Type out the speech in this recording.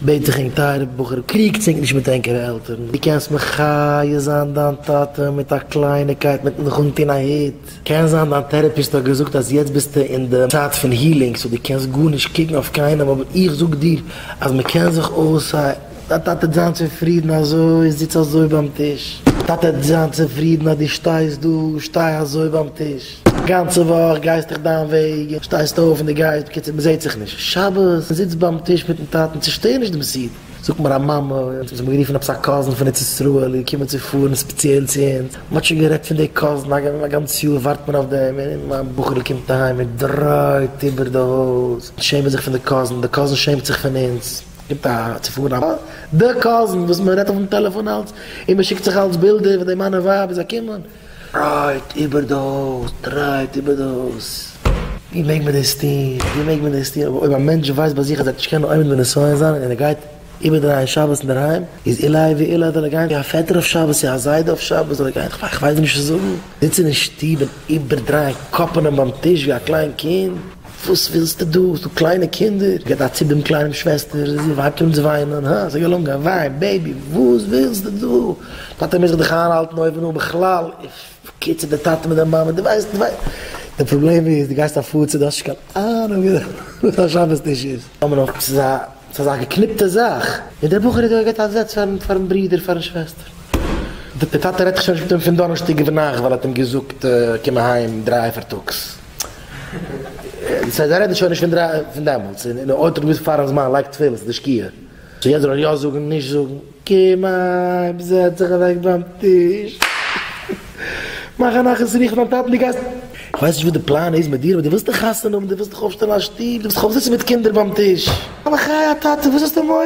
בעט איך ענק טייערע בחור קריגטס ענק נישט מיט ענקערע עלטערן, דו קענסט מחיה זיין דיין טאטע מיט א קלייניקייט מיטן זיך אנטון א הוט, קען זיין דיין טערעפיסט האט געזאגט אז יעצט ביסטו אין די צייט פון הילינג סאו דו קענסט גארנישט קוקן אויף קיינעם אבער איך זאג דיר אז מען קען זיך אויס א דיין טאטע וועט זיין צופרידן אזוי זיץ אזוי ביים טיש דיין טאטע וועט זיין צופרידן אז דו שטייסט דא שטיי אזוי ביים טיש. נישט. גאנצע וואך גייסט דיך דיין וועג און שטייסט אויף און די גייסט, בקיצור מען זעט זיך נישט, שבת זיצט ביים טיש מיטן טאטן, צושטער נישט דעם סידור, זאגט מיר א מאמע אז מ'האט גערופן עפעס א קאזין פון ארץ ישראל איז געקומען צו פארן ספעציעל צו אונז, מ'האט שוין גערעדט פון די קאזין א גאנץ יאר ווארט מען אויף דעם, און מיין בחור'ל קומט אהיים און דרייט איבער די הויז, אונז שעמען זיך פון די קאזין, די קאזין שעמט זיך פון אונז, גיבט א צו פארן א מאמע, די קאזין וואס מ'רעדט אויפן טעלעפאן אלץ, און מ'שיקט זיך אלץ בילדער ווען די מאן און ווייב איז געקומען. טרייט איבער דאס, טרייט איבער דאס. ווי מעג מען דאס טון, ווי מעג מען דאס טון, אבער אויב א מענטש ווייסט ביי זיך אז ער וועט נישט קענען עומד בנסיון זיין און ער גייט איבערדרייען שבת אינדערהיים, איז עילאי ועילאי זאל ער גיין ווי א פעטער אויף שבת צו א זיידע אויף שבת זאל ער גיין, כ'ווייס נישט וואס צו זאגן, זיצן אין שטוב און איבערדרייען קאפענען ביים טיש ווי א קליין קינד. וואס ווילסטו דא? האסט דא קליינע קינדער? גיב א ציפ דעם קליינעם שוועסטער, זי ווייבט אן צו וויינען, הא? זיי געלונגען, וויין, בעיבי, וואס ווילסטו דא? טאטע מוז זיך דיך איינהאלטן אויב נו בכלל, און בקיצור דער טאטע מיט דער מאמע, דו ווייסט, דו ווייסט, דער פראבלעם איז דו גייסט אפאר צו, דו האסט נישט קיין אהנונג וואס א שבת טיש איז. טאמער נאך, ס'איז א, ס'איז אזא געקניפטע זאך, און דער בחור האט דא געהאט א זעץ פארן, פארן ברודער, פארן שוועסטער, דער טאטע רעדט זיך שוין נישט מיט אים פון דאנערשטאג אויף נאכט ווייל ער האט אים געזאגט קום אהיים דרײַ פארטאגס. סאיז א רעדן שוין נישט פון דרײַ פון דעמאלטס און און אויב טוט געוויס פארן זמן לייגט תפילין סאיז די שקיעה סאו יעצט זאל ער יא זאגן נישט זאגן קום אהיים זעץ זיך אוועק ביים טיש מאך א נחת רוף דיין טאטן די גייסט כ'ווייס נישט וואס די פלאן איז מיט דיר אבער די ווילסט דיך חתונה האבן די ווילסט דיך אויפשטעלן א שטוב די ווילסט דיך אויפזעצן מיט קינדער ביים טיש. א בחיי הטאטע וואס האסטו מורא?